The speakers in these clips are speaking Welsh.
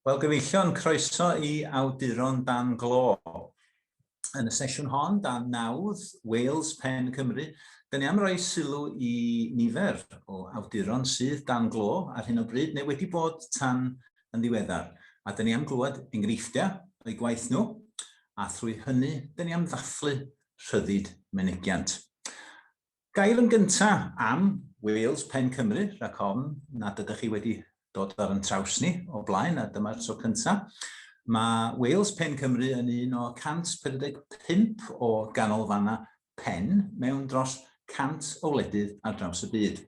Wel, gyfeillion, croeso i Awduron Dan Glo. Yn y sesiwn hon, dan nawdd Wales Pen Cymru, dyn ni am roi sylw i nifer o awduron sydd dan glo ar hyn o bryd neu wedi bod tan yn ddiweddar, a dyn ni am glywed enghreifftiau o'i gwaith nhw, a thrwy hynny, dyn ni am ddathlu rhyddid menegiant. Gair yn gynta am Wales Pen Cymru, rhag ofn nad ydych chi wedi dod ar yn traws ni o blaen a dyma'r tro cynta. Mae Wales Pen Cymru yn un o 145 o ganolfannau pen mewn dros 100 o wledydd ar draws y byd.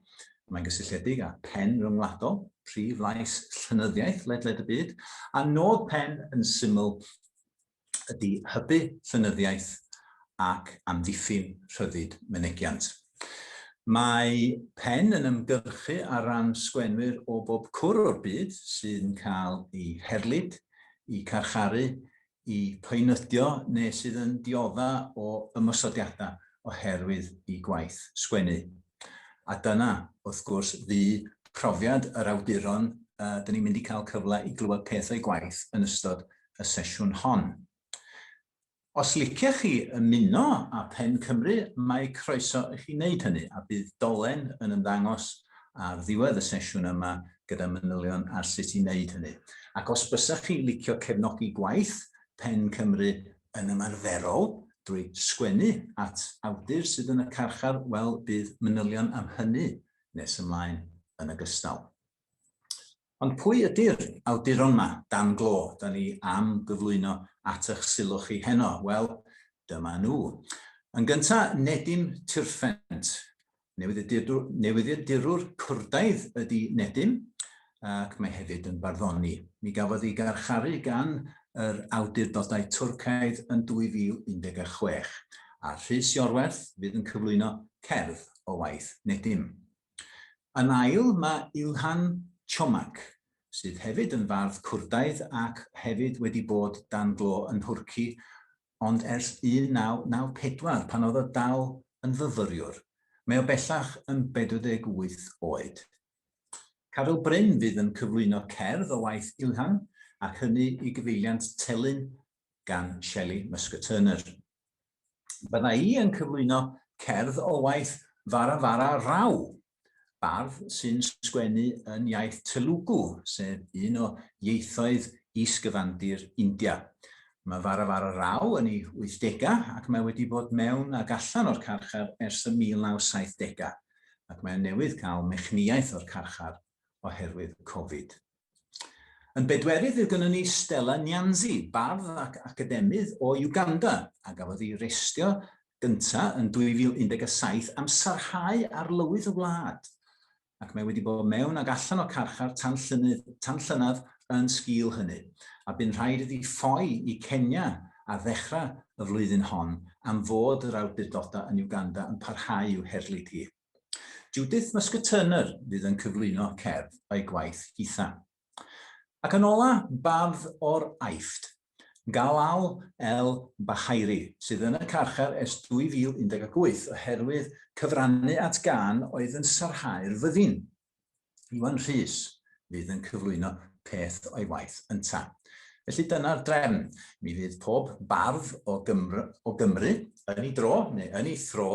Mae'n gysylltiedig â phen ryngwladol, prif lais llenyddiaeth ledled y byd, a nod pen yn syml ydy hybu llenyddiaeth ac amddiffyn rhyddid mynegiant. Mae Pen yn ymgyrchu ar ran sgwenwyr o bob cwr o'r byd sy'n cael eu herlid, eu carcharu, eu poenydio neu sydd yn diodda' o ymosodiadau oherwydd eu gwaith sgwennu. A dyna, wrth gwrs, fu profiad yr awduron 'dyn ni'n mynd i cael cyfle i glywed peth o'u gwaith yn ystod y sesiwn hon. Os liciech chi ymuno â Phen Cymru, mae croeso i chi wneud hynny, a bydd dolen yn ymddangos ar ddiwedd y sesiwn yma gyda manylion ar sut i wneud hynny. Ac os bysech chi'n licio cefnogi gwaith Pen Cymru yn ymarferol drwy sgwennu at awdur sydd yn y carchar, wel, bydd manylion am hynny nes ymlaen yn ogystal. Ond pwy ydy'r awduron 'ma, dan glo, 'da ni am gyflwyno at ych sylw chi heno? Wel, dyma nhw. Yn gynta, Nedim Tirfent. Newyddiadurwr Cwrdaidd ydy Nedim, ac mae hefyd yn barddoni. Mi gafodd ei garcharu gan yr awdurdodau Twrcaidd yn 2016, a Rhys Iorwerth fydd yn cyflwyno cerdd o waith Nedim. Yn ail, mae Ilhan Çomak, sydd hefyd yn fardd Cwrdaidd ac hefyd wedi bod dan glo yn Nhwrci ond ers 1994 pan oedd o dal yn fyfyriwr. Mae o bellach yn 48 oed. Caryl Bryn fydd yn cyflwyno cerdd o waith Ilhan ac hynny i gyfeiliant Telyn gan Shelley Musker-Turner. Bydda i yn cyflwyno cerdd o waith Vara Vara Rao, bardd sy'n sgwennu yn iaith Telugu, sef un o ieithoedd is-gyfandir India. Mae Vara Vara Rao yn ei wythdegau ac mae wedi bod mewn ac allan o'r carchar ers y 1970au, ac mae newydd cael mechnïaeth o'r carchar oherwydd Covid. Yn bedwerydd fydd gynnon ni Stella Nyanzi, bardd ac academydd o Uganda, a gafodd ei restio gynta yn 2017 am sarhau arlywydd y wlad, ac mae wedi bod mewn ac allan o carchar tan llynydd, tan llynedd yn sgil hynny, a bu'n rhaid iddi ffoi i Kenya ar ddechrau y flwyddyn hon am fod yr awdurdodau yn Uganda yn parhau i'w herlid hi. Judith Muscatturner fydd yn cyflwyno cerdd a'i gwaith hitha. Ac yn ola, bardd o'r Aifft, Galal El Bahairi, sydd yn y carchar ers 2018 oherwydd cyfrannu at gân oedd yn sarhau'r fyddin. Iwan Rhys fydd yn cyflwyno peth o'i waith ynta. Felly dyna'r drefn. Mi fydd pob bardd o Gymru, o Gymru yn ei dro, neu yn ei thro,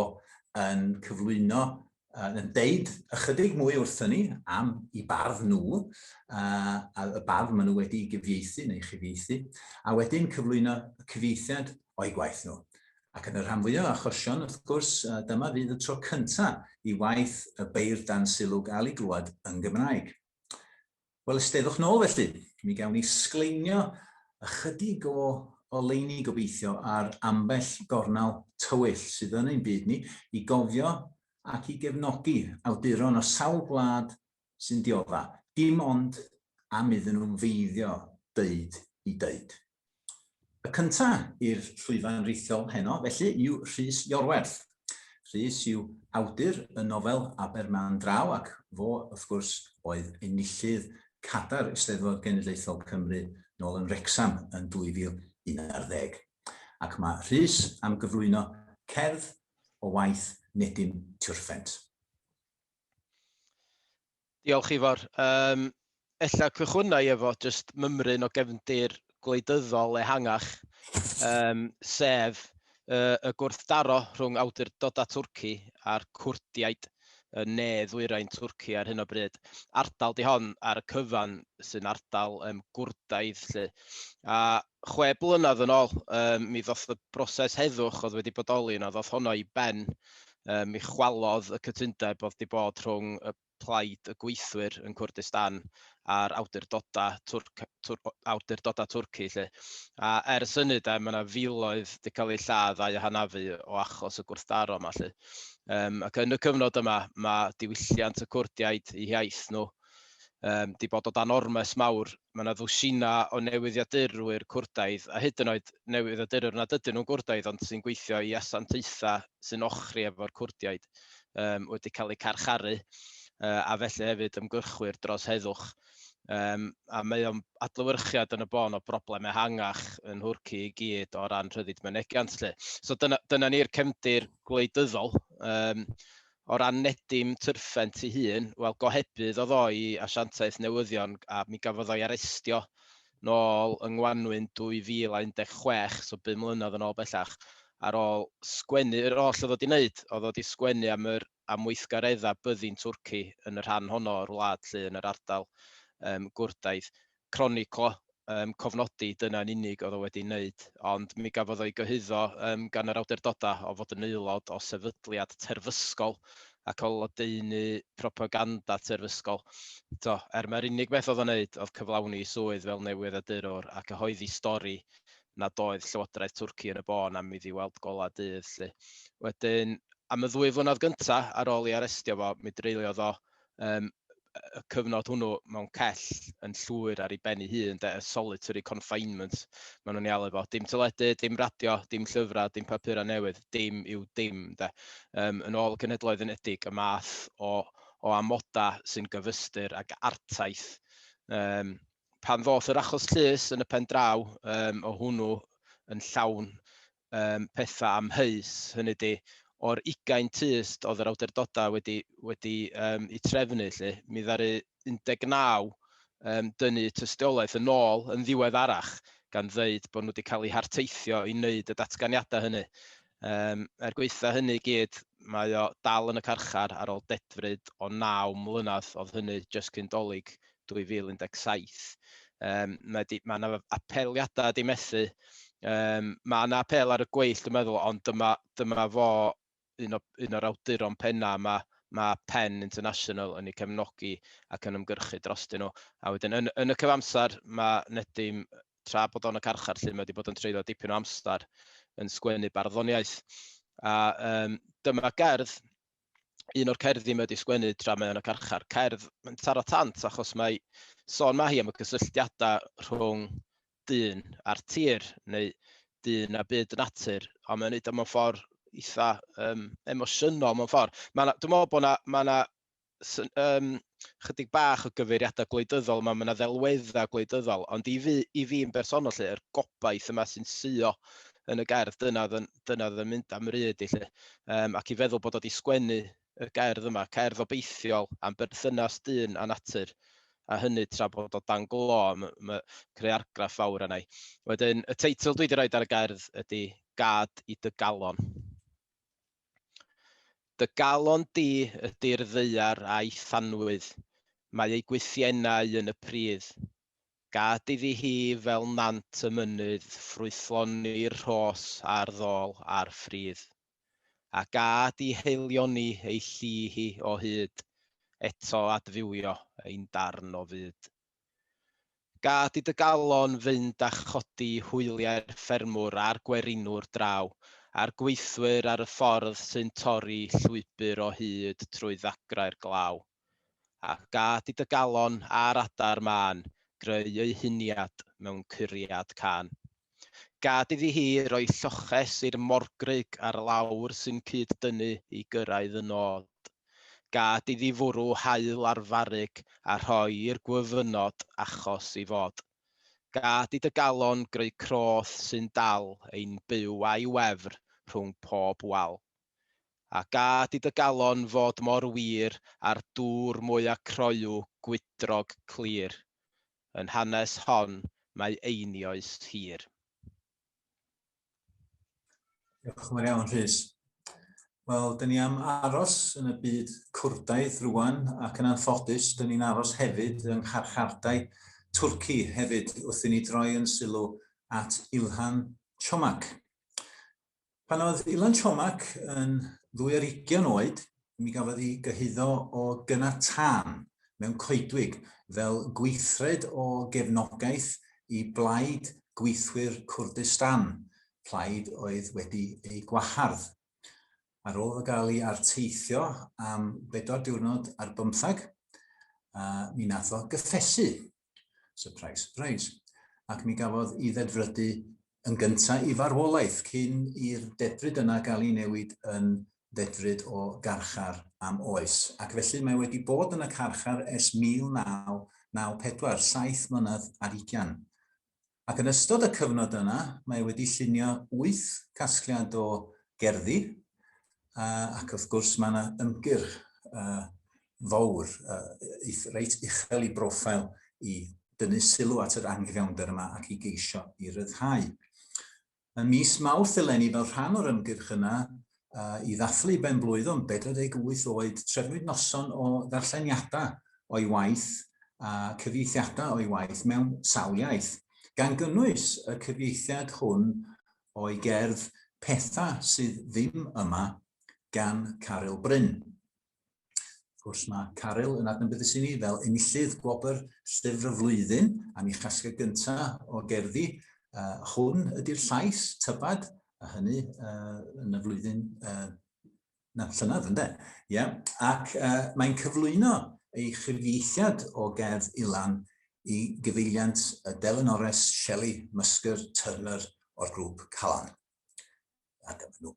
yn cyflwyno yn deud ychydig mwy wrthyn ni am i bardd nhw, a y bardd maen nhw wedi gyfieithu neu chyfieithu, a wedyn cyflwyno cyfieithiad o'i gwaith nhw. Ac yn y rhan fwyaf o achosion, wrth gwrs, dyma fydd y tro cynta i waith y beirdd dan sylw gael ei glywed yn Gymraeg. Wel, ysteddwch nôl felly. Mi gawn ni sgleinio ychydig o oleuni gobeithio ar ambell gornel tywyll sydd yn ein byd ni i gofio ac i gefnogi awduron o sawl gwlad sy'n diodda, dim ond am iddyn nhw feiddio deud i deud. Y cynta i'r llwyfan rithiol heno, felly, yw Rhys Iorwerth. Rhys yw awdur y nofel Aberman Draw ac fo, wrth gwrs, oedd enillydd Cadar Eisteddfod Genedlaethol Cymru nôl yn Wrecsam yn 2011. Ac mae Rhys am gyflwyno cerdd o waith Nedim Tiwrffent. Diolch Ifor. Um, ella cychwynnau efo just mymryn o gefndir gwleidyddol ehangach, um, sef uh, y gwrthdaro rhwng awdurdodau Twrci a'r Cwrdiaid y ne ddwyrain Twrci ar hyn o bryd. Ardal di hon ar y cyfan sy'n ardal um, gwrdaidd lle. A chwe blynedd yn ôl, um, mi ddoth y broses heddwch oedd wedi bodoli yna, ddoth honno i ben. Um, mi chwalodd y cytundeb oedd wedi bod rhwng y plaid y gweithwyr yn Cwrdistan a'r awdurdodau, Twrc, Twr, awdurdodau Twrci. Lle. A ers hynny, da, mae yna filoedd wedi cael eu lladd a'u hanafu o achos y gwrthdaro yma. Lle. Um, ac yn y cyfnod yma, mae diwylliant y Cwrdiaid, eu hiaith nhw, um, di bod o dan ormes mawr mae yna ddwsinau o newyddiadurwyr Cwrdaidd, a hyd yn oed newyddiadurwyr nad ydyn nhw'n Gwrdaidd ond sy'n gweithio i asiantaethau sy'n ochri efo'r Cwrdiaid, um, wedi cael eu carcharu, uh, a felly hefyd ymgyrchwyr dros heddwch. Um, a mae o'n adlywyrchiad yn y bon o broblem ehangach yn Hwrci i gyd o ran rhyddid mynegiant. Lle. So dyna, dyna ni'r cefndir gwleidyddol. Um, O ran Nedim Tyrffent ei hun, wel, gohebydd oedd o i Asiantaeth Newyddion a mi gafodd o'i arestio nôl yng ngwanwyn 2016, so bum mlynedd yn ôl bellach, ar ôl sgwennu, yr oll oedd o 'di 'neud, oedd o 'di sgwennu am yr am weithgareddau byddin Twrci yn y rhan honno o'r wlad 'lly, yn yr ardal gwrdaidd. croniclo, yym, cofnodi, dyna yn unig oedd o wedi wneud, ond mi gafodd o'i gyhuddo yym gan yr awdurdodau o fod yn aelod o sefydliad terfysgol ac o lodaenu propaganda terfysgol. To, er mae'r unig beth oedd o'n wneud oedd cyflawni swydd fel newyddiadurwr a cyhoeddi stori nad oedd Llywodraeth Twrci yn y bôn am iddi weld golau dydd 'lly. Wedyn, am y ddwy flynedd gyntaf ar ôl ei arestio fo, mi dreuliodd o yym y cyfnod hwnnw mewn cell yn llwyr ar ei ben ei hun, de, y solitary confinement maen nhw'n ei alw fo. Dim teledu, dim radio, dim llyfrau, dim papurau newydd, dim yw dim. De. Um, yn ôl y Cenhedloedd Unedig, y math o, o amodau sy'n gyfystyr ag artaith. Um, pan ddoth yr achos llys yn y pen draw um, o hwnnw yn llawn yym pethau amheus, hynny ydi, o'r ugain tyst oedd yr awdurdodau wedi wedi yym eu trefnu 'lly, mi ddaru 19 yym dynnu eu tystiolaeth yn ôl yn ddiweddarach, gan ddeud bod nhw wedi cael eu harteithio i wneud y datganiadau hynny. Yym er gwaetha' hynny i gyd, mae o dal yn y carchar ar ôl dedfryd o naw mlynedd, oedd hynny jyst cyn 'Dolig 2017. Um, mae yna apeliadau di methu. Um, mae yna apel ar y gweill, dwi'n meddwl, ond dyma, dyma fo un, o, un o'r awduron penna yma, mae Penn International yn ei cefnogi ac yn ymgyrchu drostyn nhw. A wedyn, yn, yn y cyfamser, mae Nedim, tra bod o'n y carchar, lle mae wedi bod yn treulio dipyn o amser yn sgwennu barddoniaeth. A um, dyma gerdd un o'r cerddi mae wedi sgwennu tra mae yn y carchar. Cerdd, mae'n taro tant achos mae sôn mae hi am y cysylltiadau rhwng dyn a'r tir, neu dyn a byd natur, ond mae'n neud o mewn ffordd eitha um, emosiynol mewn ffordd. Dwi'n meddwl bod yna ma, na, um, chydig bach o gyfeiriadau gwleidyddol, mae yna ddelweddau gwleidyddol, ond i fi, i fi yn bersonol lle, yr gobaith yma sy'n suo yn y gerdd, dyna oedd yn, dyna oedd yn mynd am ryd i lle, um, ac i feddwl bod oedd i sgwennu y gerdd yma, cerdd obeithiol am berthynas dyn a natur, a hynny tra bod o dan glo, mae creu argraff fawr yna. Wedyn, y teitl dwi wedi rhoi ar y gerdd ydy Gad i dy galon. Dy galon di ydy'r ddaear a'i thanwydd, mae ei gwythiennau yn y pridd. Gad iddi hi fel nant y mynydd ffrwythloni'r rhos a'r ddol a'r ffridd. A gad i haelioni ei lli hi o hyd, eto adfywio ein darn o fyd. Gad i dy galon fynd a chodi hwyliau'r ffermwr a'r gwerinwr draw, a'r gweithwyr ar y ffordd sy'n torri llwybr o hyd trwy ddagrau'r glaw. A gad i dy galon a'r adar mân greu eu huniad mewn curiad cân. Gad iddi hi roi lloches i'r morgrug ar lawr sy'n cyd-dynnu i gyrraedd y nod. Gad iddi fwrw haul ar farrug a rhoi i'r gwyfynod achos i fod. Gad i dy galon greu croth sy'n dal ein byw a'i wefr rhwng pob wal. A gad i dy galon fod mor wir â'r dŵr mwya' croyw gwydrog clir. yn hanes hon mae einioes hir. Diolch yn fawr iawn, Rhys. Wel, dyn ni am aros yn y byd cwrdaeth rwan, ac yn anffodus, dyn ni'n aros hefyd yng ngharchardai Twrci hefyd, wrth i ni droi yn sylw at Ilhan Çomak. Pan oedd Ilan Chomac yn ddwy ar ugian oed, mi gafodd ei gyhuddo o gyna tân mewn coedwig fel gweithred o gefnogaeth i Blaid Gweithwyr Kurdistan, plaid oedd wedi ei gwahardd. Ar ôl iddo gael ei arteithio am bedwar diwrnod ar bymthag, mi nath o gyffesu. Surprise, surprise. Ac mi gafodd i ddedfrydu yn gyntaf i farwolaeth cyn i'r dedfryd yna gael ei newid yn ddedfryd o garchar am oes. Ac felly mae wedi bod yn y carchar ers 1994, saith mlynedd ar ugian. Ac yn ystod y cyfnod yna, mae e wedi llunio wyth casgliad o gerddi, ac wrth gwrs mae yna ymgyrch fawr, reit uchel i broffil i dynnu sylw at yr anghyfiawnder yma ac i geisio i ryddhau. Ym mis Mawrth eleni fel rhan o'r ymgyrch yna i ddathlu ben-blwydd o'n 48 oed, trefnwyd noson o ddarlleniadau o'i waith a cyfieithiadau o'i waith mewn sawl iaith, gan gynnwys y cyfieithiad hwn o'i gerdd 'Pethau sydd ddim yma' gan Caryl Bryn. Wrth gwrs mae Caryl yn adnabyddus i ni fel enillydd gwobr llyfr y flwyddyn a mi chasga gyntaf o gerddi uh, hwn ydy'r llais tybad a hynny uh, yn y flwyddyn uh, na, llynedd ynddo. Yeah. Ac uh, mae'n cyflwyno ei chyfieithiad o gerdd Ilan i gyfeiliant y delynores Shelley Musker Turner o'r grŵp Calan. A dyma nhw.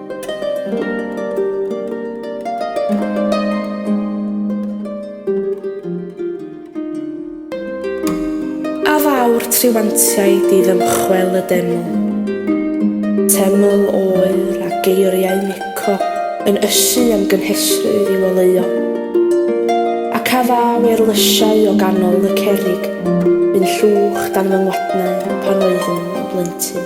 A fawr triwantiaid i ddymchwel y deml. Teml oer a geiriau Mico yn ysu am gynhesrwydd i'w oleuo. Ac a ddaw eirlysiau o ganol y cerrig bu'n llwch dan fy ngwadnau pan oeddwn yn blentyn.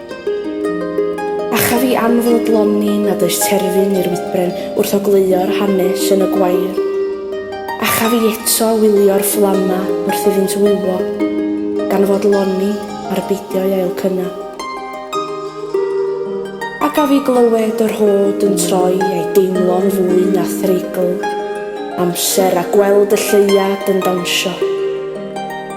A chaf i anfodloni nad oes terfyn i'r wydbren wrth ogleuo'r hanes yn y gwair? A chaf i eto wylio'r fflamau wrth iddynt wywo, gan fodloni ar beidio eu ailcynnau? A gaf i glywed yr hod yn troi a'i deimlo'n fwy na threigl amser a gweld y lleuad yn dawnsio?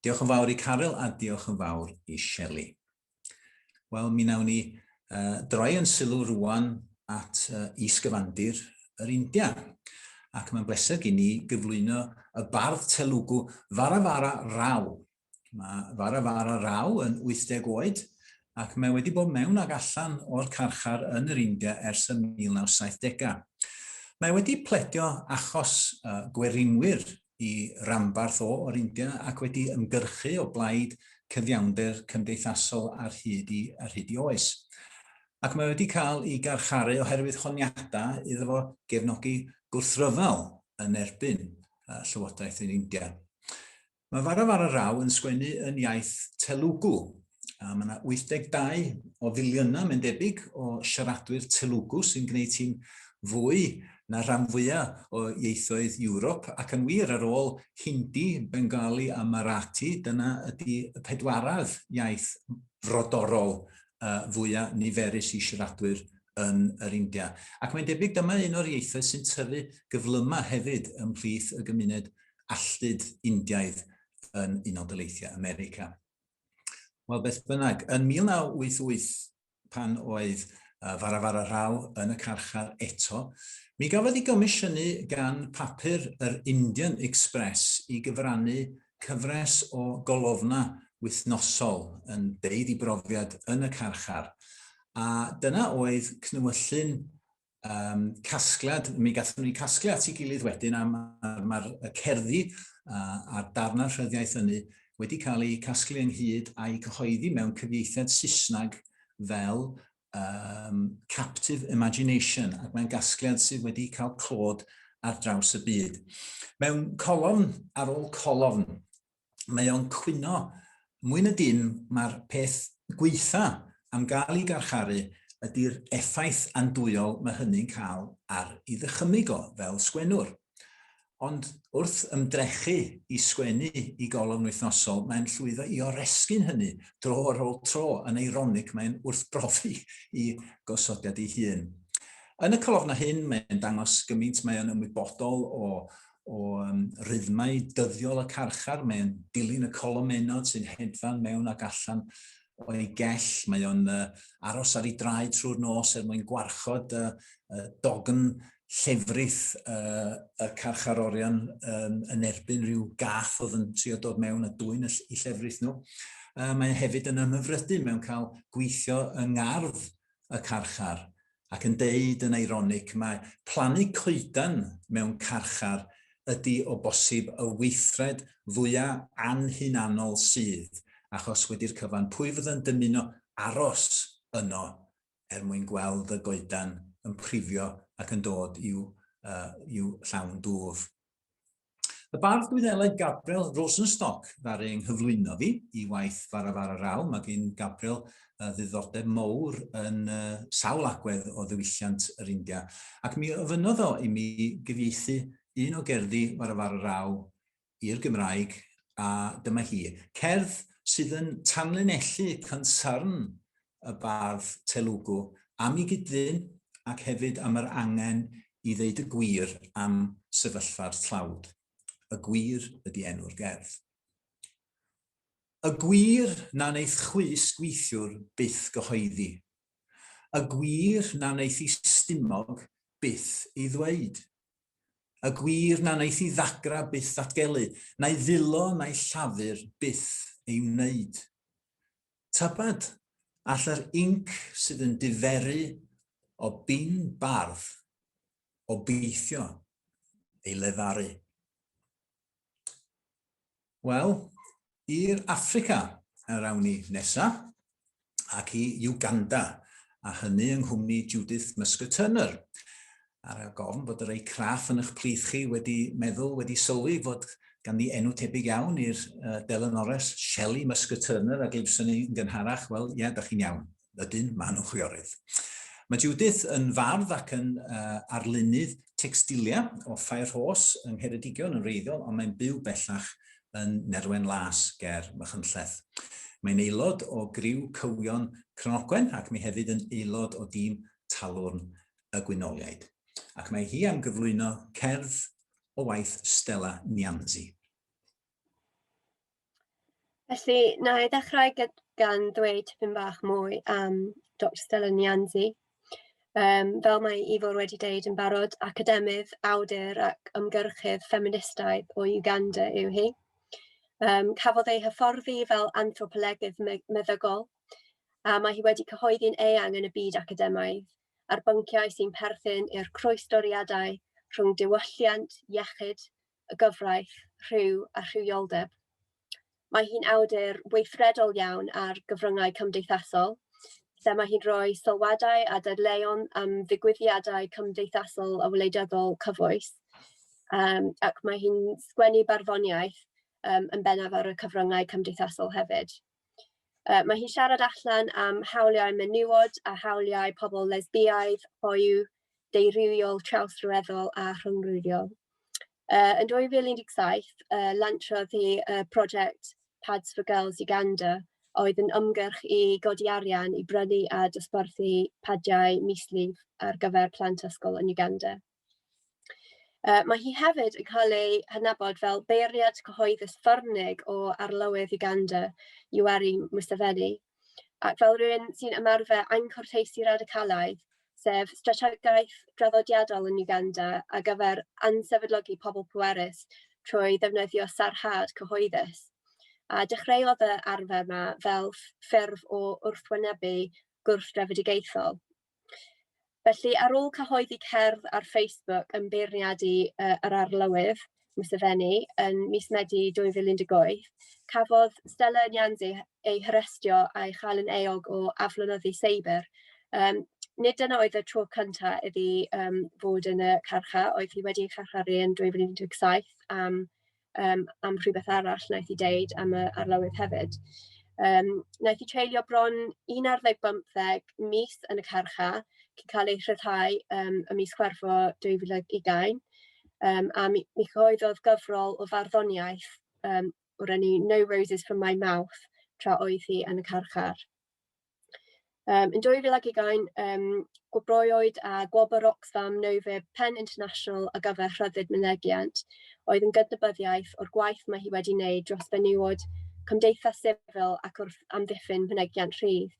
Diolch yn fawr i Caryl a diolch yn fawr i Shelley. Wel, mi nawn ni uh, droi yn sylw rwan at uh, isgyfandir yr India. Ac mae'n bleser gen i gyflwyno y bardd Telugu Varavara Rao. Mae Varavara Rao yn 80 oed ac mae wedi bod mewn ag allan o'r carchar yn yr India ers y 1970au. Mae wedi pledio achos uh, gwerinwyr i ranbarth o o'r India ac wedi ymgyrchu o blaid cyfiawnder cymdeithasol ar hyd i ar hyd i oes. Ac mae wedi cael ei garcharu oherwydd honiadau iddo fo gefnogi gwrthryfel yn erbyn uh, Llywodraeth yr India. Mae Varavararao yn sgwennu yn iaith Telugu, A mae yna 82 o filiynau, mae'n debyg, o siaradwyr Telugu sy'n gwneud hi'n fwy na rhan fwyaf o ieithoedd Ewrop, ac yn wir ar ôl Hindi, Bengali a Marathi, dyna ydy y pedwaredd iaith frodorol uh, fwyaf niferus i siaradwyr yn yr India. Ac mae'n debyg dyma un o'r ieithoedd sy'n tyfu gyflymau hefyd ymhlith y gymuned alltud Indiaidd yn Unol Daleithiau America. Wel, beth bynnag, yn 1988, pan oedd uh, Farafara Rao yn y carchar eto, mi gafodd ei gomisiynu gan papur yr Indian Express i gyfrannu cyfres o golofna wythnosol yn deud i brofiad yn y carchar. A dyna oedd cnwyllyn um, casgliad, mi gathen ni casgliad at ei gilydd wedyn am mae'r ma cerddi uh, a'r darnau rhyddiaeth ynu wedi cael eu casglu ynghyd a'i cyhoeddi mewn cyfieithiad Saesneg fel um, Captive Imagination, ac mae'n gasgliad sydd wedi cael clod ar draws y byd. Mewn colofn ar ôl colofn, mae o'n cwyno mwy na dim mae'r peth gweitha am gael ei garcharu ydy'r effaith andwyol mae hynny'n cael ar ei ddychymyg o fel sgwennwr. Ond wrth ymdrechu i sgwennu i golofn wythnosol, mae'n llwyddo i oresgyn hynny dro ar ôl tro yn eironig mae'n wrthbrofi i gosodiad ei hun. Yn y colofnau hyn mae'n dangos gymaint mae o'n ymwybodol o o um, rhythmau dyddiol y carchar, mae'n dilyn y colomennod sy'n hedfan mewn ac allan o'i gell. Mae o'n uh, aros ar ei draed trwy'r nos er mwyn gwarchod uh, uh, dogn llefrith uh, y carchar orion um, yn erbyn rhyw gath oedd yn trio dod mewn a dwy'n y llefrith nhw. Uh, mae hefyd yn ymhyfrydu mewn cael gweithio yng ngardd y carchar ac yn deud yn eironic mae plannu coeden mewn carchar ydi o bosib y weithred fwya anhunanol sydd, achos wedi'r cyfan pwy fydda'n dymuno aros yno er mwyn gweld y goedan yn prifio ac yn dod i'w llawn dwf. Y bardd Gwyddeleg Gabriel Rosenstock ddaru yng nghyflwyno fi i waith Fara Fara Raw. Mae gen Gabriel uh, ddiddordeb mowr yn uh, sawl agwedd o ddiwylliant yr India. Ac mi ofynnodd o i mi gyfieithu un o gerddi Fara Fara Raw i'r Gymraeg, a dyma hi. Cerdd sydd yn tanlinellu cynsarn y bardd Telugu am ei gyd-dyn ac hefyd am yr angen i ddeud y gwir am sefyllfa'r tlawd. Y Gwir ydi enw'r gerdd. Y gwir na wneith chwys gweithiwr byth gyhoeddi. Y gwir na wneith i stumog byth ei ddweud. Y gwir na wneith i ddagra byth ddatgelu, na'i ddilo na'i llafur byth ei wneud. Tybed all yr inc sydd yn diferu o bin bardd obeithio ei lefaru? Wel, i'r Affrica yr awn ni nesa, ac i Uganda, a hynny yng nghwmni Judith Musker-Turner. ar y gofn bod y rei craff yn eich plith chi wedi meddwl, wedi sylwi fod ganddi enw tebyg iawn i'r uh, delynores Shelley Musker Turner a glibson ni yn gynharach, wel, ie, yeah, da chi'n iawn. Ydyn, maen nhw'n chwiorydd. Mae Judith yn fardd ac yn uh, arlunydd textilia o Fairhos yng Ngheredigion yn reiddiol, ond mae'n byw bellach yn Nerwen Las ger Mychynlleth. Mae'n aelod o griw cywion Cronogwen ac mae hefyd yn aelod o dîm talwrn y Gwynoliaid, ac mae hi am gyflwyno cerdd o waith Stella Nianzi. Felly, na i ddechrau gan ddweud tipyn bach mwy am Dr Stella Nianzi. Um, fel mae Ifor wedi deud yn barod, academydd, awdur ac ymgyrchydd ffeministaidd o Uganda yw hi. Um, cafodd ei hyfforddi fel anthropolegydd meddygol, a mae hi wedi cyhoeddi'n eang yn y byd academaidd ar bynciau sy'n perthyn i'r croestoriadau rhwng diwylliant, iechyd, y gyfraith, rhyw a rhywioldeb. Mae hi'n awdur weithredol iawn ar gyfryngau cymdeithasol, lle mae hi'n rhoi sylwadau a dadleuon am ddigwyddiadau cymdeithasol a wleidyddol cyfoes, um, ac mae hi'n sgwennu barddoniaeth um, yn bennaf ar y cyfryngau cymdeithasol hefyd. Uh, mae hi'n siarad allan am hawliau menywod a hawliau pobl lesbiaidd, hoyw, deirywiol, trawsryweddol a rhyngrwyddiol. Uh, yn 2017, uh, lantrodd hi uh, prosiect Pads for Girls Uganda, oedd yn ymgyrch i godi arian i brynu a dosbarthu padiau mislif ar gyfer plant ysgol yn Uganda. Uh, mae hi hefyd yn cael ei hynabod fel beirniad cyhoeddus farnig o arlywydd Uganda, Yoweri Museveni, ac fel rhywun sy'n ymarfer anghwrteisi radicalaidd, sef strategaeth draddodiadol yn Uganda a gyfer ansefydlogi pobl pwerus trwy ddefnyddio sarhad cyhoeddus. A dechreuodd y arfer yma fel ffurf o wrthwynebu gwrth-drefedigaethol. Felly, ar ôl cyhoeddi cerdd ar Facebook yn beirniadu uh, yr arlywydd, Mr Fenny, yn mis Medi 2018, cafodd Stella Nyanzi ei harestio a'i chael yn eog o aflonyddu seibr. Um, nid yna oedd y tro cyntaf iddi um, fod yn y carcha, oedd hi wedi ei charcharu yn 2017 am yym, am rhywbeth arall wnaeth hi dweud am y arlywydd hefyd. Yym, wnaeth hi treulio bron un ar ddeg bymtheg mis yn y carchar cyn cael ei rhyddhau yym, ym mis Chwefror 2020, yym, a mi mi gyhoeddodd gyfrol o farddoniaeth yym, o'r enw No Roses from My Mouth tra oedd hi yn y carchar. Um, yn 2020, um, gwobroiwyd a gwobr Oxfam Nove Pen International a gyfer rhyddid mynegiant, oedd yn gydnabyddiaeth o'r gwaith mae hi wedi wneud dros fenywod, cymdeithas sifil ac wrth amddiffyn mynegiant rhydd.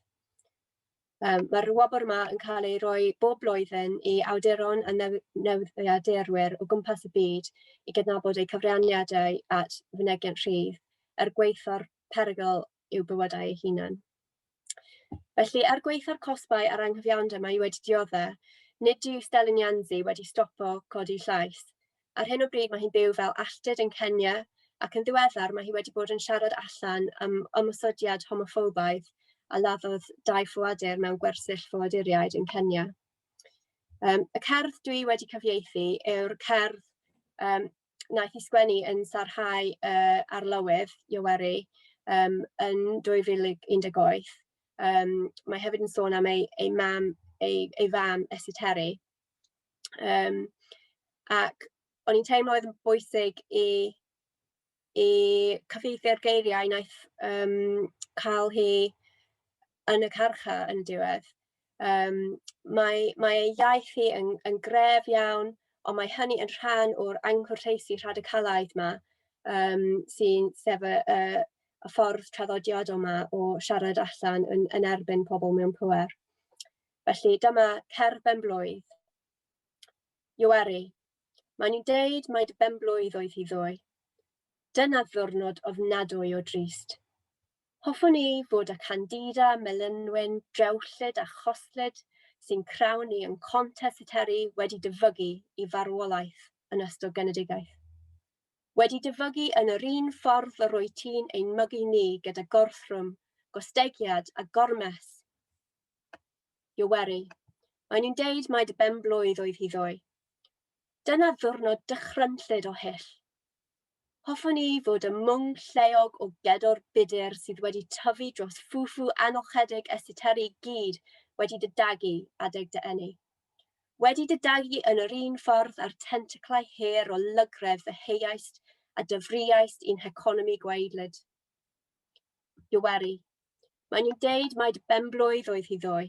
Um, Mae'r wobr yma yn cael ei roi bob blwyddyn i awduron a newyddiadurwyr o gwmpas y byd i gydnabod eu cyfraniadau at fynegiant rhydd er gweithio'r perygl i'w bywydau eu hunain. Felly, er gwaetha'r cosbau a'r anghyfiawnder mae wedi dioddau, nid yw Stelyn Yanzi wedi stopo codi llais. Ar hyn o bryd mae hi'n byw fel alltud yn Kenya ac yn ddiweddar mae hi wedi bod yn siarad allan am ymosodiad homoffobaidd a laddodd dau ffoadur mewn gwersyll ffoaduriaid yn Kenya. Um, y cerdd dwi wedi cyfieithu yw'r cerdd um, wnaeth i sgwennu yn sarhau uh, arlywydd Ioweri um, yn 2018. Um, mae hefyd yn sôn am ei, ei mam, ei, ei fam Esiteri. Um, ac o'n i'n teimlo oedd yn bwysig i, i cyfeithio'r geiriau wnaeth um, cael hi yn y carcha yn y diwedd. Yym mae mae ei iaith hi yn yn gref iawn, ond mae hynny yn rhan o'r anghwrteisi rhadicalaidd 'ma yym sy'n sef y y y ffordd traddodiadol 'ma o siarad allan yn yn erbyn pobl mewn pŵer. Felly dyma cerdd benblwydd. Iwery, maen nhw'n deud mai dy benblwydd oedd hi ddoe. Dyna ddiwrnod ofnadwy o drist. Hoffwn ei fod â candida, melynwyn, drewllyd a choslyd sy'n crawn i yn Conte Seteri wedi dyfygu i farwolaeth yn ystod genedigaeth. Wedi dyfygu yn yr un ffordd yr wyt ti'n ein mygu ni gyda gorthrwm, gostegiad a gormes! Ioweri, mae nhw'n deud mai dy ben-blwydd oedd hi ddoe. Dyna ddiwrnod dychrynllyd o hyll, Hoffwn i fod ym mwng lleog o gedor budur sydd wedi tyfu dros ffwfu anochedig y siteri i gyd wedi dy dagu adeg dy eni. Wedi dy dagu yn yr un ffordd â'r tentaclau her o lygredd fy heiaist a dyfriaist i'n heconomi gwaedlyd. Iweri. Mae nhw'n deud mai dy benblwydd oedd hi ddoe.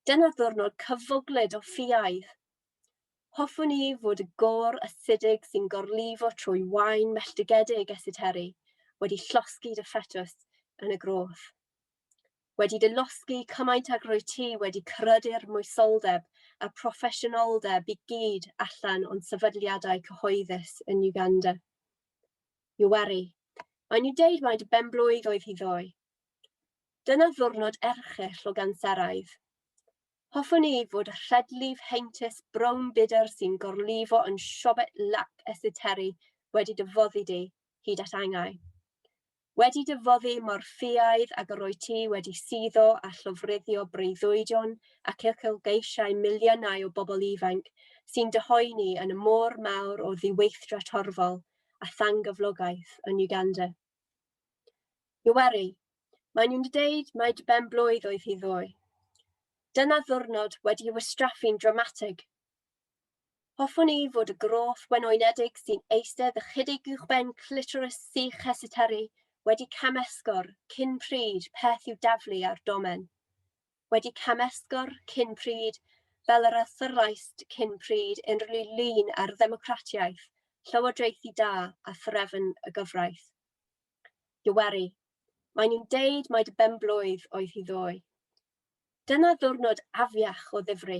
Dyna'r ddwrnod cyfwglyd o ffiaidd, Hoffwn i fod y gor asidig sy'n gorlifo trwy wain melltigedig esiteri wedi llosgi dy ffetws yn y groth. Wedi dy losgi cymaint ag rwy ti wedi crydu'r moesoldeb a'r proffesiynoldeb i gyd allan o'n sefydliadau cyhoeddus yn Uganda. Yoweri, mae nhw'n deud mai dy benblwydd oedd hi ddoe. Dyna ddwrnod erchyll o ganseraidd. Hoffwn i fod y rhedlif heintus brown budr sy'n gorlifo yn siobet lap esiteri wedi dy foddi di, hyd at angau. Wedi dy foddi mor ffiaidd ag yr o'i ti wedi suddo a llofruddio breuddwydion ac uchelgeisiau miliynau o bobl ifanc sy'n dy hoeni yn y môr mawr o ddiweithdra torfol a thangyflogaeth yn Uganda. Iwery, maen nhw'n deud mai dy ben blwydd oedd hi ddoe. Dyna ddwrnod wedi'i wastraffu'n dramatig. Hoffwn i fod y groth wenwynedig sy'n eistedd ychydig uwchben clitoris sych Hesiteri wedi cam-esgor cyn pryd peth i'w daflu ar domen. wedi camesgor cyn pryd fel yr athraist cyn pryd unrhyw lun ar ddemocratiaeth, llywodraethu da a threfn y gyfraith. Yoweri, mae nhw'n deud mai dy benblwydd oedd hi ddoe. Dyna ddiwrnod afiach o ddifri.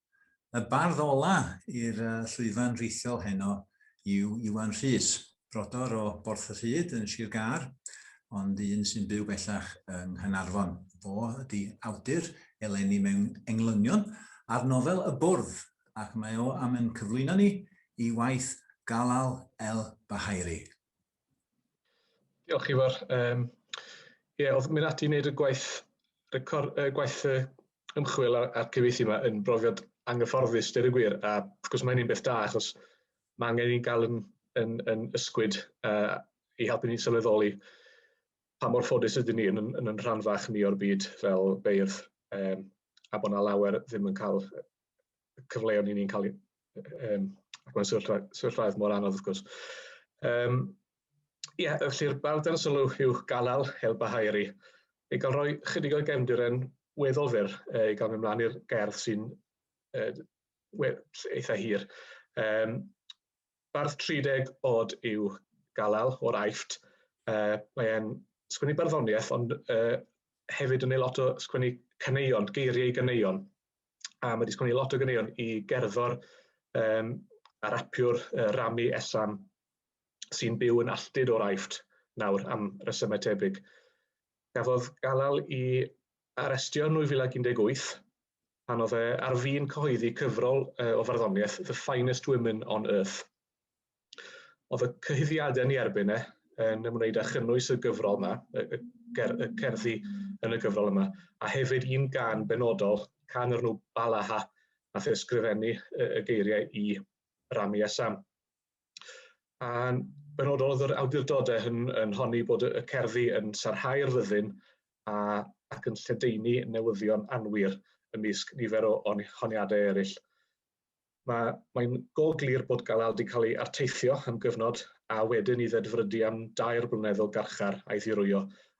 Y bardd ola' i'r llwyfan rithiol heno yw Iwan Rhys, brodor o Borth-y-rhyd yn Sir Gâr, ond un sy'n byw bellach yng Nghaernarfon. Fo ydy awdur eleni mewn englynion ar nofel Y Bwrdd, ac mae o am ein cyflwyno ni i waith Galal El Bahairi. Diolch Ifor. Um, ie, yeah, oedd mynd ati i wneud y gwaith, record, uh, gwaith uh, ymchwil a'r, ar cyfeithi yma yn brofiad anghyfforddus, dyr y gwir, a wrth gwrs mae'n un beth da, achos mae angen i'n gael yn, yn, yn ysgwyd uh, i helpu ni'n sylweddoli pa mor ffodus ydyn ni yn, yn, yn, yn rhan fach ni o'r byd fel beirdd, um, a bod yna lawer ddim yn cael y cyfleon i ni'n cael ei... Um, ac mae'n sefyllfaoedd mor anodd wrth gwrs. Um, Ie, yeah, felly'r bardan sylw yw galal hel bahairi. I gael rhoi chydig o gefndiren weddol fyr i gael mynd mlaen i'r gerdd sy'n eitha hir. Um, bardd 30 oed yw galal o'r aifft. Uh, Mae'n sgwennu barddoniaeth ond uh, hefyd yn ei lot o sgwennu caneuon, geiriau i ganeuon. a mae wedi sgwennu lot o ganeuon i gerddor um, a rapiwr uh, Rami Esam sy'n byw yn alltud o'r Aifft nawr am resymau tebyg. Gafodd galal i arestio yn 2018 pan oedd e ar fin cyhoeddi cyfrol uh, o farddoniaeth The Finest Women on Earth. Oedd y cyhuddiadau ni erbyn e yn ymwneud â chynnwys y gyfrol yma, y, y, ger, y cerddi yn y gyfrol yma, a hefyd un gan benodol, can o'r nhw Balaha, a the ysgrifennu y, y geiriau i Rami a Sam. A'n benodol oedd yr awdurdodau yn, yn honni bod y cerddi yn sarhau'r fyddin a, ac yn lledaenu newyddion anwir ymysg nifer o honiadau eraill. Mae, mae'n go glir bod Galal wedi cael ei arteithio am gyfnod a wedyn i ddedfrydu am dair blynedd o garchar a'i ddirwyo,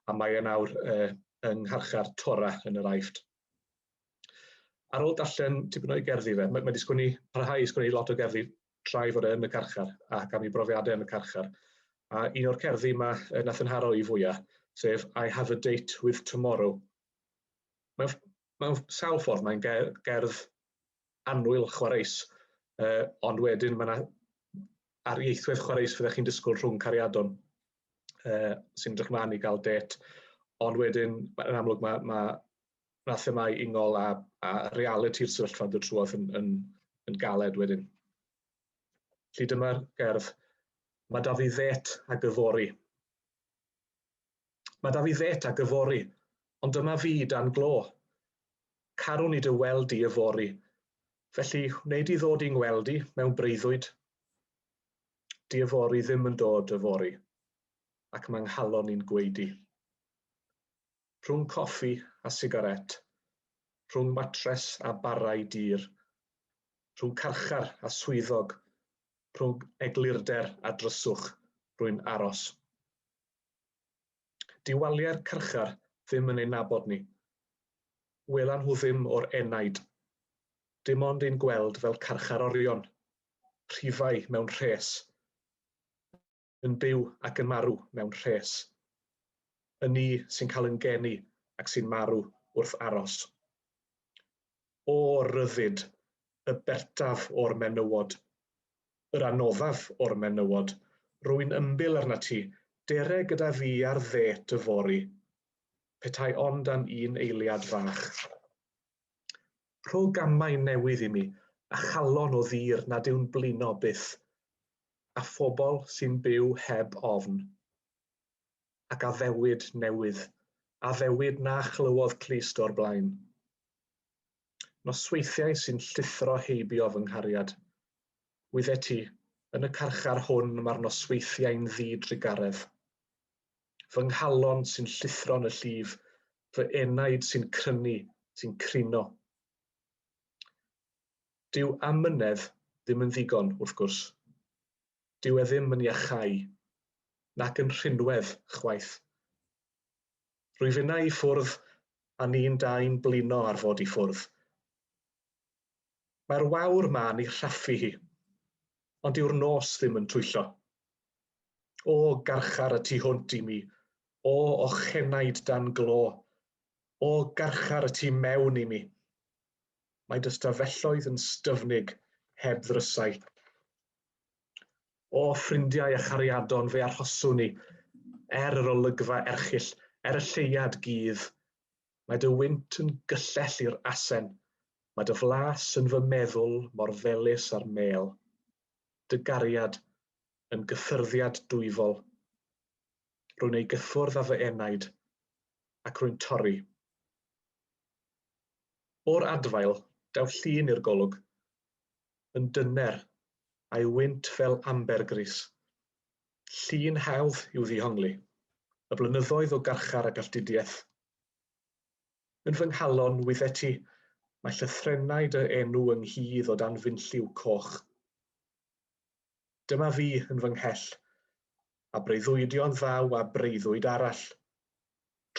a mae e nawr uh, yng ngharchar Tora yn yr Aifft. Ar ôl darllen tipyn o'i gerddi fe, mae, mae wedi sgwni, parhau i sgwni lot o gerddi tra i fod e yn y carchar ac am ei brofiadau yn y carchar. A un o'r cerddi mae uh, nath yn haro i fwyaf, sef I have a date with tomorrow. Mae'n mewn sawl ffordd mae'n gerdd annwyl chwareus, uh, ond wedyn mae yna ar ieithwedd chwareus fyddech chi'n disgwyl rhwng cariadon uh, sy'n edrych mlaen i gael det, ond wedyn yn amlwg mae, mae na themau ingol a, a reality'r sefyllfa yn dod trwodd yn, yn, yn galed wedyn. Felly dyma'r gerdd. Mae da fi ddet a gyfori. Mae 'da fi fêt ag yfory, ond dyma fi dan glo. Carwn i dy weld di yfory, felly wnei di ddod i ngweld i mewn breuddwyd? Di yfory ddim yn dod yfory, ac mae nghalon i'n gweud i. Rhwng coffi a sigaret, rhwng matres a barau dur, rhwng carchar a swyddog, rhwng eglurder a dryswch, rwy'n aros. Dyw waliau'r carchar ddim yn ein nabod ni. Welan nhw ddim o'r enaid. Dim ond ein gweld fel carchar orion, rhifau mewn rhes. Yn byw ac yn marw mewn rhes. Y ni sy'n cael yn geni ac sy'n marw wrth aros. O, ryddid! Y bertaf o'r menywod! yr anoddaf o'r menywod, rwy'n ymbil arnat ti, dere gyda fi ar ddêt yfory. Petai ond am un eiliad fach. Rho gamau newydd i mi, a chalon o ddur nad yw'n blino byth, a phobl sy'n byw heb ofn. Ac addewid newydd, addewid na chlywodd Clust o'r blaen. Nosweithiau sy'n llithro heibio fy nghariad. Wyddet ti, yn y carchar hwn mae'r nosweithiau'n ddi-drugaredd. Fy nghalon sy'n llithro yn y llif, fy enaid sy'n crynu, sy'n crino. Dyw amynedd ddim yn ddigon, wrth gwrs. Dyw e ddim yn iachau, nac yn rhinwedd chwaith. Rwyf innau i ffwrdd a ni'n dau'n blino ar fod i ffwrdd. Mae'r wawr ma'n i rhaffu hi, ond dyw'r nos ddim yn twyllo. O, garchar y tu hwnt i mi, o, ochenaid dan glo, o, garchar y tu mewn i mi. Mae dy stafelloedd yn styfnig heb ddrysau. O, ffrindiau a chariadon, fe arhoswn i, er yr olygfa erchyll, er y lleuad gudd. Mae dy wynt yn gyllell i'r asen, mae dy flas yn fy meddwl mor felys â'r mêl. Dy gariad yn gyffyrddiad dwyfol. Rwy'n ei gyffwrdd â fy enaid, ac rwy'n torri. O'r adfail, daw llun i'r golwg. yn dyner, a'i wynt fel ambergris. Llun hawdd i'w ddihongli, y blynyddoedd o garchar a galltudiaeth. Yn fy nghalon wyddeti, mae llythrennau dy enw ynghudd o dan fynlliw coch. Dyma fi yn fy nghell, a breuddwydion ddaw a breuddwyd arall.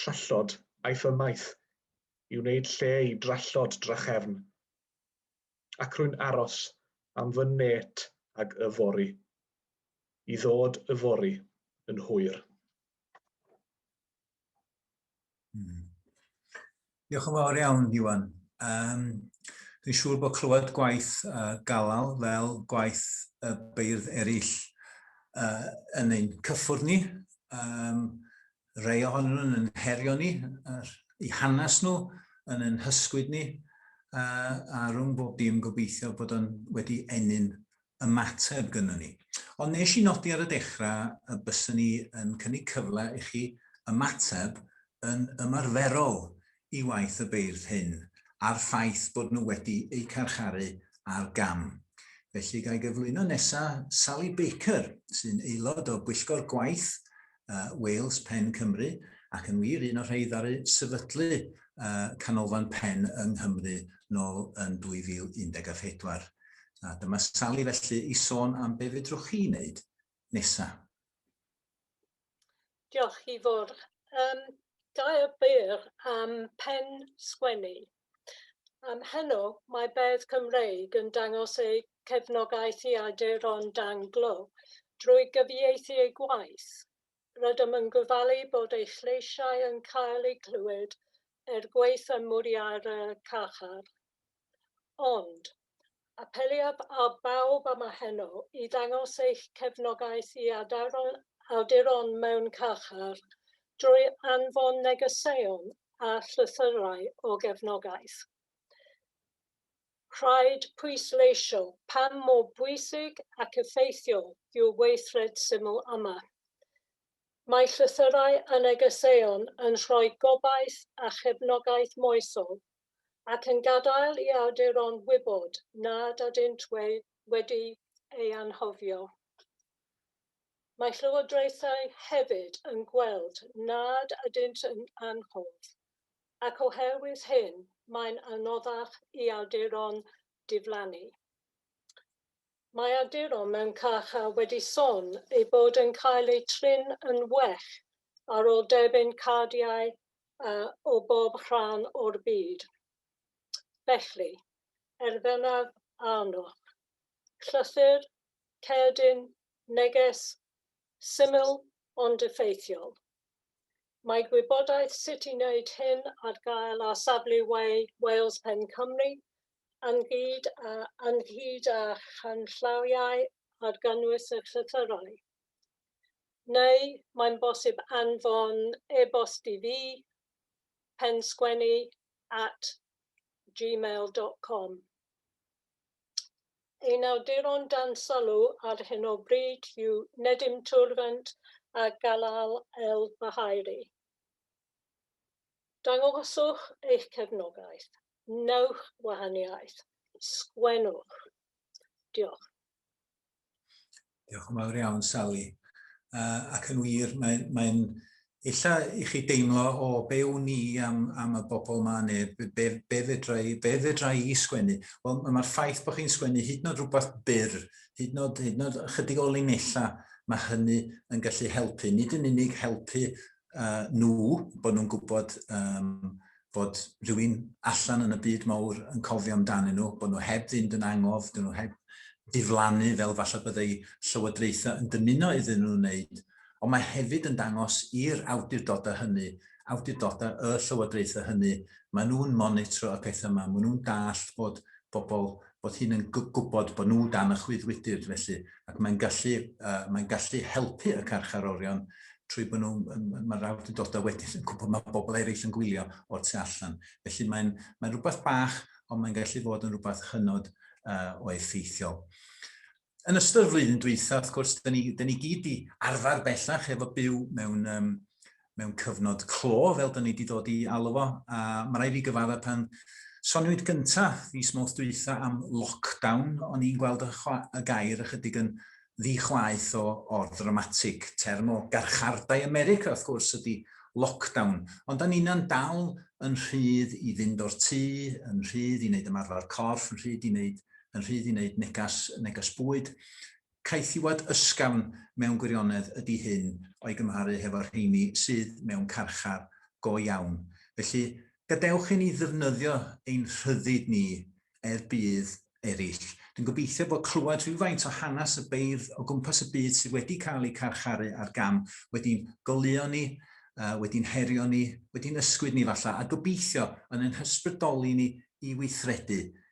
Trallod aeth ymaith, i wneud lle i drallod drachefn. ac rwy'n aros am fy nêt ag yfory. I ddod yfory yn hwyr. Hmm. Diolch yn fawr iawn, Iwan. Um, Dwi'n siŵr bod clywed gwaith uh, galal fel gwaith y uh, beirdd eraill uh, yn ein cyffwrdd ni um, Rhai ohonyn nhw'n yn herio ni, i hanes nhw, yn yn hysgwyd ni, a, a rhwng bob dim gobeithio bod o'n wedi ennyn ymateb gyda ni. Ond nes i nodi ar y dechrau y byswn ni yn cynnig cyfle i chi ymateb yn ymarferol i waith y beirdd hyn a'r ffaith bod nhw wedi eu carcharu ar gam. Felly ga i gyflwyno nesa Sally Baker, sy'n aelod o Bwyllgor Gwaith uh, Wales Pen Cymru, ac yn wir un o'r rhai ddaru sefydlu uh, Canolfan Pen yng Nghymru nôl yn 2014. A dyma Sally felly i sôn am be fedrwch chi wneud nesa. Diolch Ifor. Um, da o byr am pen sgwennu. Um, heno mae Beirdd Cymreig yn dangos eu cefnogaeth i awduron danglo drwy gyfieithu eu gwaith. Rydym yn gofalu bod eich lleisiau yn cael eu clywed er gwaith ym mwriad y carchar. Ond, Apeliaf ar bawb am a heno i ddangos eich cefnogaeth i awduron mewn carchar drwy anfon negeseuon a llythyrau o gefnogaeth. Rhaid pwysleisio pam mor bwysig ac effeithiol yw'r weithred syml yma. Mae llythyrau a negeseuon yn rhoi gobaith a chefnogaeth moesol ac yn gadael i awduron wybod nad ydynt wedi ei anghofio. Mae llywodraethau hefyd yn gweld nad ydynt yn anghoff, ac oherwydd hyn mae'n anoddach i awduron diflannu. Mae awduron mewn carchar wedi son eu bod yn cael eu trin yn well ar ôl derbyn cardiau o bob rhan o'r byd. Felly, er bennaf arnoch, llythyr, cerdyn, neges, syml ond effeithiol. Mae gwybodaeth sut i wneud hyn ar gael ar safle We Wales Pen Cymru ynghyd â ynghyd â chanllawiau ar gynnwys y llythyrau. Neu mae'n bosib anfon e-bost i fi, pensgwennu at gmail.com. Ein awduron dan sylw ar hyn o bryd yw Nedim Turvant a Galal El Bahairi. Dangoswch eich cefnogaeth. Wnewch wahaniaeth. Sgwennwch. Diolch. Diolch yn fawr iawn, Sally. Uh, ac yn wir, mae'n mae illa i chi deimlo o be wn i am, am y bobl ma neu be, be, be, fedra, i, be fedra i sgwennu. Wel, mae'r ffaith bod chi'n sgwennu hyd yn oed rhywbeth byr, hyd yn oed, hyd yn oed ychydig o linella, mae hynny yn gallu helpu. Nid yn unig helpu uh, nhw, bod nhw'n gwybod um, fod rhywun allan yn y byd mawr yn cofio amdanyn nhw, bod nhw heb fynd yn angof, dyn nhw heb diflannu fel falle byddai llywodraethau yn dymuno iddyn nhw wneud, ond mae hefyd yn dangos i'r awdurdodau hynny, awdurdodau y llywodraethau hynny, maen nhw'n monitro y pethau yma, maen nhw'n dallt bod bobl bod hyn yn gwybod bod nhw dan y chwyddwydr felly ac mae'n gallu uh, mae'n gallu helpu y carcharorion trwy bod nhw'n, mae'r awdurdodau wedyn yn gwybod mae bobl eraill yn gwylio o'r tu allan. Felly mae'n mae rhywbeth bach, ond mae'n gallu fod yn rhywbeth hynod uh, o effeithiol. yn ystod y flwyddyn dwytha, wrth gwrs, dyn ni, dyn ni gyd i arfer bellach efo byw mewn, um, mewn cyfnod clo, fel dyn ni wedi dod i alw fo. A mae rai fi gyfadda pan soniwyd gyntaf fis mawrth dwytha am lockdown, o'n i'n gweld y, y gair ychydig yn ddi-chwaeth o, o ddramatig. Term o garchardai America, wrth gwrs, ydy lockdown. Ond da ni'n dal yn rhydd i fynd o'r tŷ, yn rhydd i wneud ymarfer corff, yn rhydd i wneud yn rhydd i wneud negas, neges bwyd. Caethiwed ysgafn mewn gwirionedd ydy hyn o'i gymharu hefo'r rheini sydd mewn carchar go iawn. Felly, gadewch i ni ddefnyddio ein rhyddid ni er budd eraill. Dwi'n gobeithio bod clywed rhywfaint o hanes y beirdd o gwmpas y byd sydd wedi cael eu carcharu ar gam wedi'n goleuo ni, uh, wedi'n herio ni, wedi'n ysgwyd ni falla, a gobeithio yn ein hysbrydoli ni i weithredu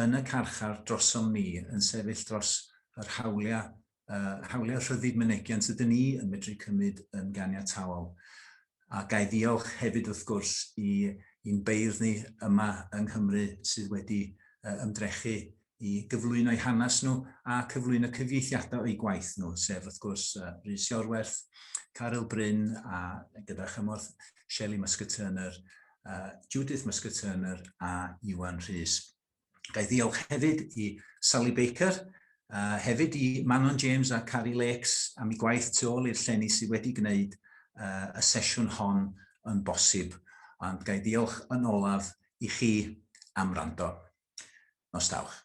yn y carchar drosom ni yn sefyll dros yr hawliau, hawliau rhyddid mynegiant ydyn ni yn medru cymryd yn ganiataol. A ga'i ddiolch hefyd wrth gwrs i i'n beirdd ni yma yng Nghymru sydd wedi ymdrechu i gyflwyno'u hanes nhw a cyflwyno cyfieithiadau o'u gwaith nhw, sef wrth gwrs Rhys Iorwerth, Caryl Bryn a gyda chymorth Shelley Muscat-Turner uh, Judith Muscat-Turner a Iwan Rhys. Gai ddiolch hefyd i Sally Baker, uh, hefyd i Manon James a Carrie Lakes am ei gwaith tu ôl i'r llenni sydd wedi gwneud uh, y sesiwn hon yn bosib. Ond gai ddiolch yn olaf i chi am rando. Nos dawch.